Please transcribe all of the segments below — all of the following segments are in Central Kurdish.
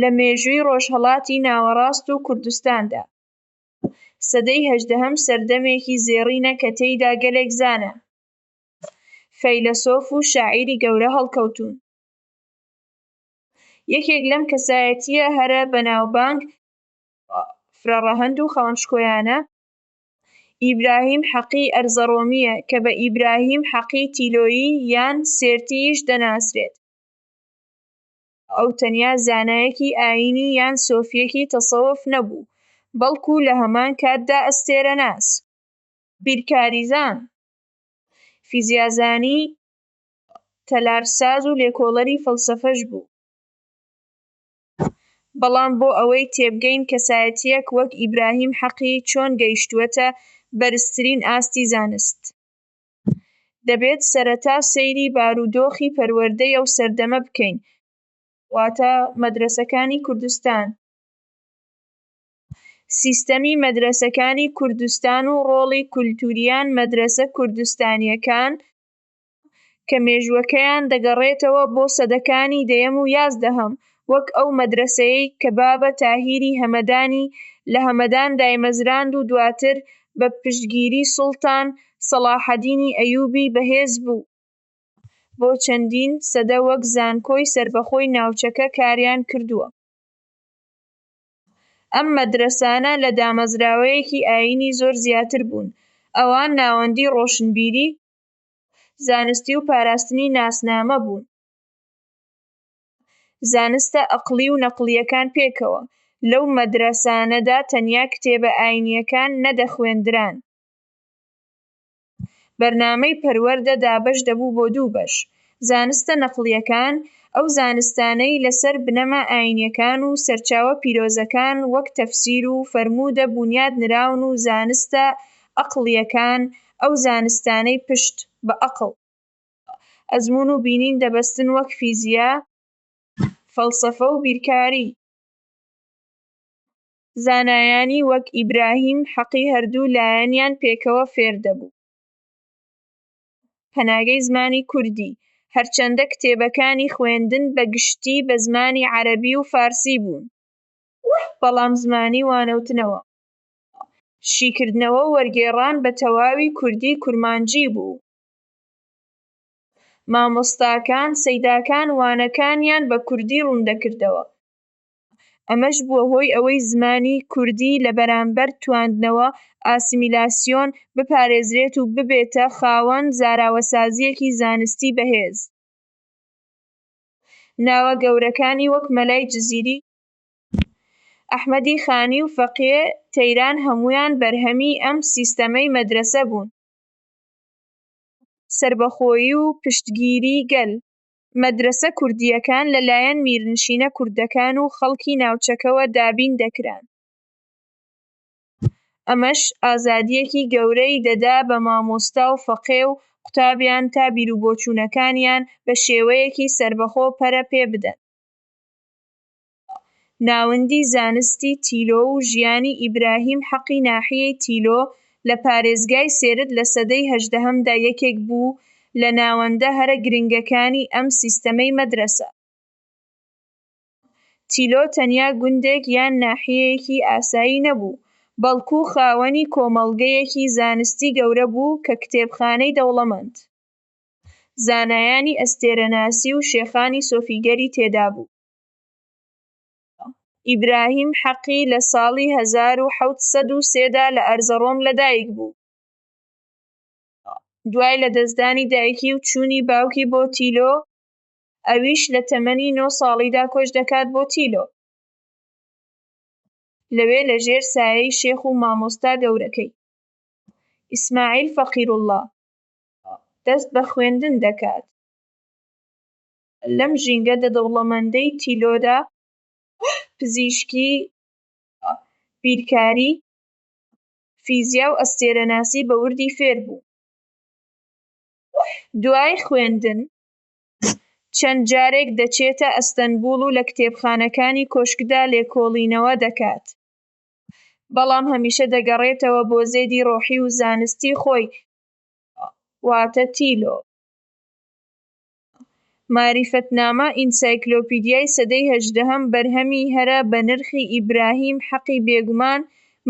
لە مێژووی ڕۆژهەڵاتی ناوەڕاست و کوردستاندا. سەدەی هەژدەهەم سەردەمێکی زێڕینە کە تێیدا گەلێک زانا، فەیلەسۆف و شاعیری گەورە هەڵکەوتوون. یەکێک لەم کەسایەتییە هەرە بەناوبانگ، فرەڕەهەند و خاوەن شکۆیانە، ئیبراهیم حەقی ئەرزەڕۆمییە کە بە ئیبراهیم حەقی تیلۆیی یان سێرتی-یش دەناسرێت. ئەو تەنیا زانایەکی ئایینی یان سۆفییەکی تەسەوف نەبوو، بەڵکو لە هەمان کاتدا ئەستێرەناس، بیرکاریزان، فیزیازانی، تەلارساز و لێکۆڵەری فەلسەفەش بوو. بەڵام بۆ ئەوەی تێبگەین کەسایەتییەک وەک ئیبراهیم حەقی چۆن گەیشتووەتە بەرزترین ئاستی زانست، دەبێت سەرەتا سەیری بارودۆخی پەروەردەی ئەو سەردەمە بکەین واتە مەدرەسەکانی کوردستان سیستەمی مەدرەسەکانی کوردستان و ڕۆڵی کولتوریان مەدرەسە کوردستانیەکان کە مێژوەکەیان دەگەڕێتەوە بۆ سەدەکانی دەیەم و یازدەهەم وەک ئەو مەدرەسەیەی کە بابە تاهیری هەمەدانی لە هەمەدان دایمەزراند و دواتر بە پشتگیری سوڵتان سەڵاحەدینی ئەیوبی بەهێز بوو بۆ چەندین سەدە وەک زانکۆی سەربەخۆی ناوچەکە کاریان کردووە. ئەم مەدرەسانە لە دامەزراوەیەکی ئایینی زۆر زیاتر بوون، ئەوان ناوەندی ڕۆشنبیری، زانستی و پاراستنی ناسنامە بوون. زانستە ئەقڵی و نەقڵییەکان پێکەوە. لەو مەدرەسانەدا تەنیا کتێبە ئایینییەکان نەدەخوێندران. بەرنامەی پەروەردە دابەش دەبوو بۆ دوو بەش. زانستە نەقڵییەکان، ئەو زانستانەی لەسەر بنەما ئایینییەکان و سەرچاوە پیرۆزەکان وەک تەفسیر و فەرموودە بونیاد نراون و زانستە ئەقڵییەکان، ئەو زانستانەی پشت بە ئەقڵ. ئەزموون و بینین دەبەستن وەک فیزیا، فەلسەفە و بیرکاری. زانایانی وەک ئیبراهیم حەقی هەردوو لایەنیان پێکەوە فێر دەبوو. پەناگەی زمانی کوردی، هەرچەندە کتێبەکانی خوێندن بە گشتی بە زمانی عەرەبی و فارسی بوون، بەڵام زمانی وانەوتنەوە، شیکردنەوە و وەرگێڕان بە تەواوی کوردی کورمانجی بوو. مامۆستاکان سەیداکان وانەکانیان بە کوردی ڕووندەکردەوە، ئەمەش بووە هۆی ئەوەی زمانی کوردی لە بەرامبەر تواندنەوە، ئاسیمیلاسیۆن، بپارێزرێت و ببێتە خاوەن زاراوەسازییەکی زانستی بەهێز. ناوە گەورەکانی وەک مەلای جزیری، ئەحمەدی خانی و فەقێ تەیران هەموویان بەرهەمی ئەم سیستەمەی مەدرەسە بوون. سەربەخۆیی و پشتگیری گەل، مەدرەسە کوردییەکان لەلایەن میرنشینە کوردەکان و خەڵکی ناوچەکەوە دابین دەکران، ئەمەش ئازادییەکی گەورەی دەدا بە مامۆستا و فەقێ و قوتابیان تا بیروبۆچوونەکانیان بە شێوەیەکی سەربەخۆ پەرە پێبدەن. ناوەندی زانستی تیلۆ و ژیانی ئیبراهیم حەقی ناحیەی تیلۆ لە پارێزگای سێرت لە سەدەی هەژدەهەمدا یەکێک بوو لە ناوەندە هەرە گرنگەکانی ئەم سیستەمەی مەدرەسە. تیلۆ تەنیا گوندێک یان ناحیەیەکی ئاسایی نەبوو، بەڵکو خاوەنی کۆمەڵگەیەکی زانستی گەورە بوو کە کتێبخانەی دەوڵەمەند، زانایانی ئەستێرەناسی و شێخانی سۆفیگەری تێدابوو. ئیبراهیم حەقی لە ساڵی هەزار و حەوت سەد و سێ دا لە ئەرزەڕۆم لەدایکبوو. دوای لەدەستدانی دایکی و چوونی باوکی بۆ تیلۆ، ئەویش لە تەمەنی نۆ ساڵیدا کۆچ دەکات بۆ تیلۆ. لەوێ لەژێر سایەی شێخ و مامۆستا گەورەکەی، ئیسماعیل فەقیروڵڵا، دەست بە خوێندن دەکات. لەم ژینگە دە دەوڵەمەندەی تیلۆدا پزیشکی، بیرکاری، فیزیا و ئەستێرەناسی بە وردی فێر بوو. دوای خوێندن چەند جارێک دەچێتە ئەستەنبوڵ و لە کتێبخانەکانی کۆشکدا لێکۆڵینەوە دەکات، بەڵام هەمیشە دەگەڕێتەوە بۆ زێدی ڕۆحی و زانستی خۆی، واتە تیلۆ. مەعریفەتنامە، ئینسایکلۆپیدیای سەدەی هەژدەهەم بەرهەمی هەرە بەنرخی ئیبراهیم حەقی بێگومان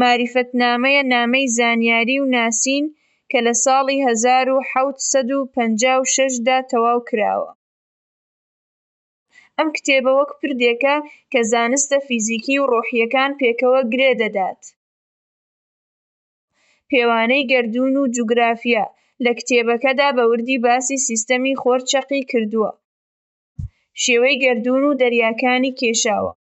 مەعریفەتنامەیە نامەی زانیاری و ناسین کە لە ساڵی هەزار و حەوت سەد و پەنجا و شەش دا تەواو کراوە. ئەم کتێبە وەک پردێکە کە زانستە فیزیکی و ڕۆحییەکان پێکەوە گرێ دەدات. پێوانەی گەردوون و جوگرافیا، لە کتێبەکەدا بە وردی باسی سیستەمی خۆر چەقی کردووە، شێوەی گەردوون و دەریاکانی کێشاوە،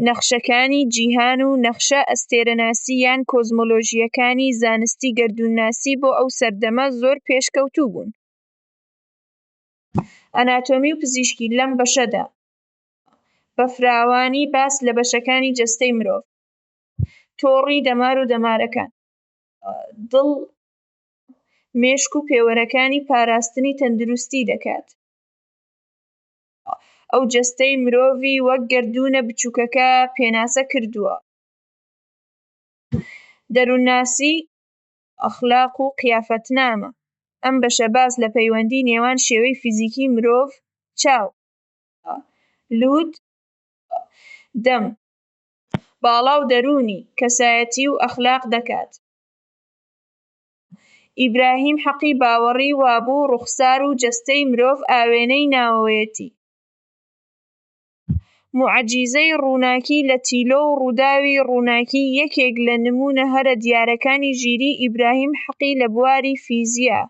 نەخشەکانی جیهان و نەخشە ئەستێرەناسی یان کۆزمۆلۆژییەکانی زانستی گەردوونناسی بۆ ئەو سەردەمە زۆر پێشکەوتوو بوون. ئەناتۆمی و پزیشکی، لەم بەشەدا بە فراوانی باس لە بەشەکانی جەستەی مرۆڤ، تۆڕی دەمار و دەمارەکان، دڵ، مێشک و پێوەرەکانی پاراستنی تەندروستی دەکات. ئەو جەستەی مرۆڤی وەک گەردوونە بچووکەکە پێناسە کردووە. دەروونناسی، ئەخلاق و قیافەتنامە، ئەم بەشە باس لە پەیوەندی نێوان شێوەی فیزیکی مرۆڤ، چاو، لووت، دەم، باڵا و دەروونی، کەسایەتی و ئەخلاق دەکات. ئیبراهیم حەقی باوەڕی وابوو ڕوخسار و جەستەی مرۆڤ ئاوێنەی ناوەوەیەتی. موعجیزەی ڕووناکی لە تیلۆ و ڕووداوی ڕووناکی یەکێک لە نموونە هەرە دیارەکانی ژیریی ئیبراهیم حەقی لە بواری فیزیا،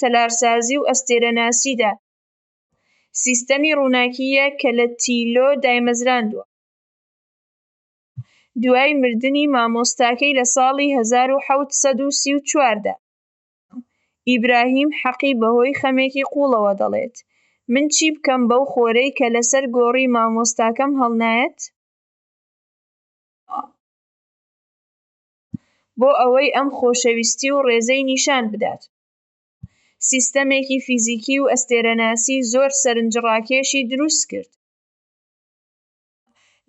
تەلارسازی و ئەستێرەناسیدا. سیستەمی ڕووناکی یە کە لە تیلۆ دایمەزراندووە دوای مردنی مامۆستاکەی لە ساڵی هەزار و حەوت سەد و سی و چوار دا. ئیبراهیم حەقی بەهۆی خەمێکی قوڵەوە دەڵێت، من چی بکەم بەو خۆرەی کە لەسەر گۆڕی مامۆستاکەم هەڵنایەت؟ بۆ ئەوەی ئەم خۆشەویستی و ڕێزەی نیشان بدات. سیستەمێکی فیزیکی و ئەستێرەناسی زۆر سەرنجڕاکێشی دروست کرد.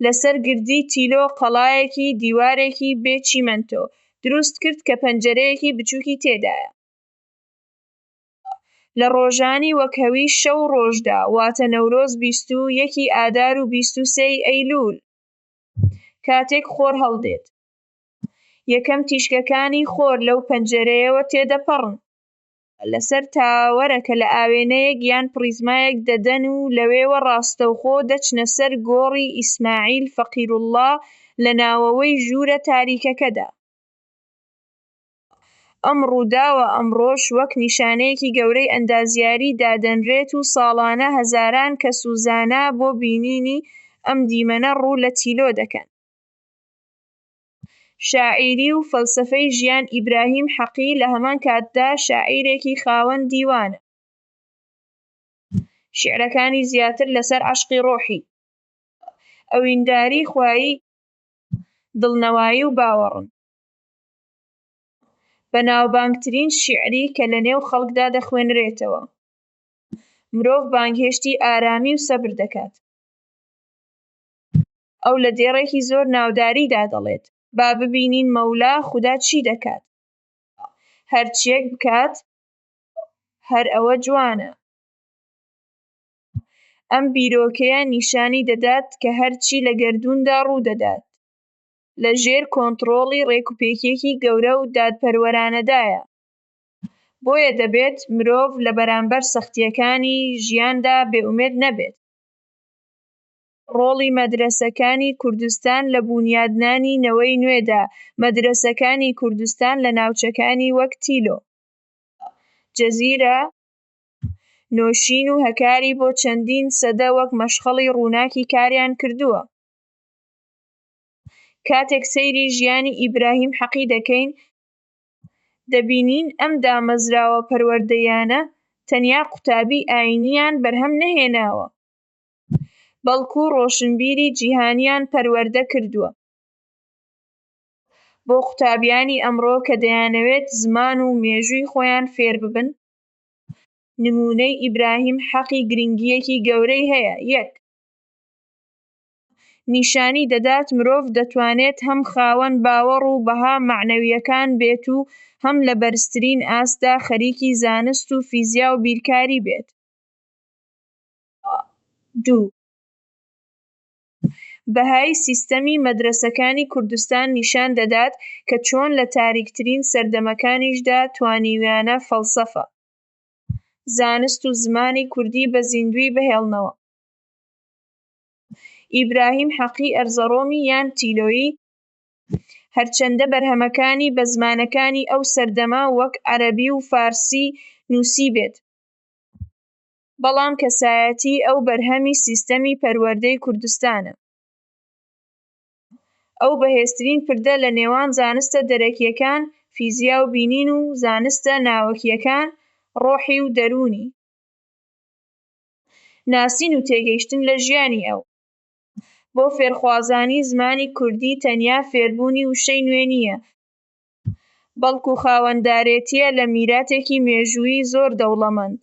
لەسەر گردی تیلۆ قەڵایەکی دیوارێکی بێ چیمەنتۆ دروست کرد کە پەنجەرەیەکی بچووکی تێدایە. لە ڕۆژانی وەک هەوی شەو و ڕۆژدا، واتە نەورۆز بیست و یەکی ئادار و بیست و سێی ئەیلوول، کاتێک خۆر هەڵدێت، یەکەم تیشکەکانی خۆر لەو پەنجەرەیەوە تێدەپەڕن، لەسەر تاوەرە کە لە ئاوێنەیەک یان پڕیزمایەک دەدەن و لەوێوە ڕاستەوخۆ دەچنە سەر گۆڕی ئیسماعیل فەقیروڵڵا لە ناوەوەی ژوورە تاریکەکەدا. ئەم ڕووداوە ئەمڕۆش وەک نیشانەیەکی گەورەی ئەندازیاری دادەنرێت و ساڵانە هەزاران کەس و زانا بۆ بینینی ئەم دیمەنە ڕوو لە تیلۆ دەکەن. شاعیری و فەلسەفەی ژیان ئیبراهیم حەقی لە هەمان کاتدا شاعیرێکی خاوەن دیوانە، شیعرەکانی زیاتر لەسەر عەشقی ڕۆحی، ئەوینداری خوایی، دڵنەوایی و باوەڕن. بەناوبانگترین شیعری کە لە نێو خەڵکدا دەخوێنرێتەوە، مرۆڤ بانگهێشتی ئارامی و سەبر دەکات. ئەو لە دێڕێکی زۆر ناوداریدا دەڵێت، با ببینین مەولا، خودا، چی دەکات؟ هەرچییەک بکات، هەر ئەوە جوانە. ئەم بیرۆکەیە نیشانی دەدات کە هەرچی لە گەردووندا ڕوو دەدات، لە ژێر کۆنتڕۆڵی ڕێکوپێکییەکی گەورە و دادپەروەرانەدایە. بۆیە دەبێت مرۆڤ لە بەرامبەر سەختییەکانی ژیاندا بێئومێد نەبێت. ڕۆڵی مەدرەسەکانی کوردستان لە بوونیادنانی نەوەی نوێدا، مەدرەسەکانی کوردستان لە ناوچەکانی وەک تیلۆ، جزیرە، نۆشین و هەکاری بۆ چەندین سەدە وەک مەشخەڵی ڕووناکی کاریان کردووە. کاتێک سەیری ژیانی ئیبراهیم حەقی دەکەین، دەبینین ئەم دامەزراوە پەروەردەییانە تەنیا قوتابی ئایینییان بەرهەم نەهێناوە، بەڵکو ڕۆشنبیری جیهانیان پەروەردە کردووە. بۆ قوتابیانی ئەمڕۆ کە دەیانەوێت زمان و مێژووی خۆیان فێر ببن، نموونەی ئیبراهیم حەقی گرنگییەکی گەورەی هەیە، یەک. نیشانی دەدات مرۆڤ دەتوانێت هەم خاوەن باوەڕ و بەها مەعنەوییەکان بێت و هەم لە بەرزترین ئاستدا خەریکی زانست و فیزیا و بیرکاری بێت. دوو. بەهای سیستەمی مەدرەسەکانی کوردستان نیشان دەدات کە چۆن لە تاریکترین سەردەمەکانیشدا توانیویانە فەلسەفە، زانست و زمانی کوردی بە زیندووی بهێڵنەوە. ئیبراهیم حەقی ئەرزەڕۆمی یان تیلۆیی هەرچەندە بەرهەمەکانی بە زمانەکانی ئەو سەردەمە وەک عەرەبی و فارسی نووسیبێت، بەڵام کەسایەتی ئەو بەرهەمی سیستەمی پەروەردەی کوردستانە. ئەو بەهێزترین پردە لە نێوان زانستە دەرەکییەکان، فیزیا و بینین و زانستە ناوەکییەکان، ڕۆحی و دەروونی. ناسین و تێگەیشتن لە ژیانی ئەو. بۆ فێرخوازانی زمانی کوردی تەنیا فێربوونی وشەی نوێ نییە، بەڵکو خاوەندارێتییە لە میراتێکی مێژوویی زۆر دەوڵەمەند.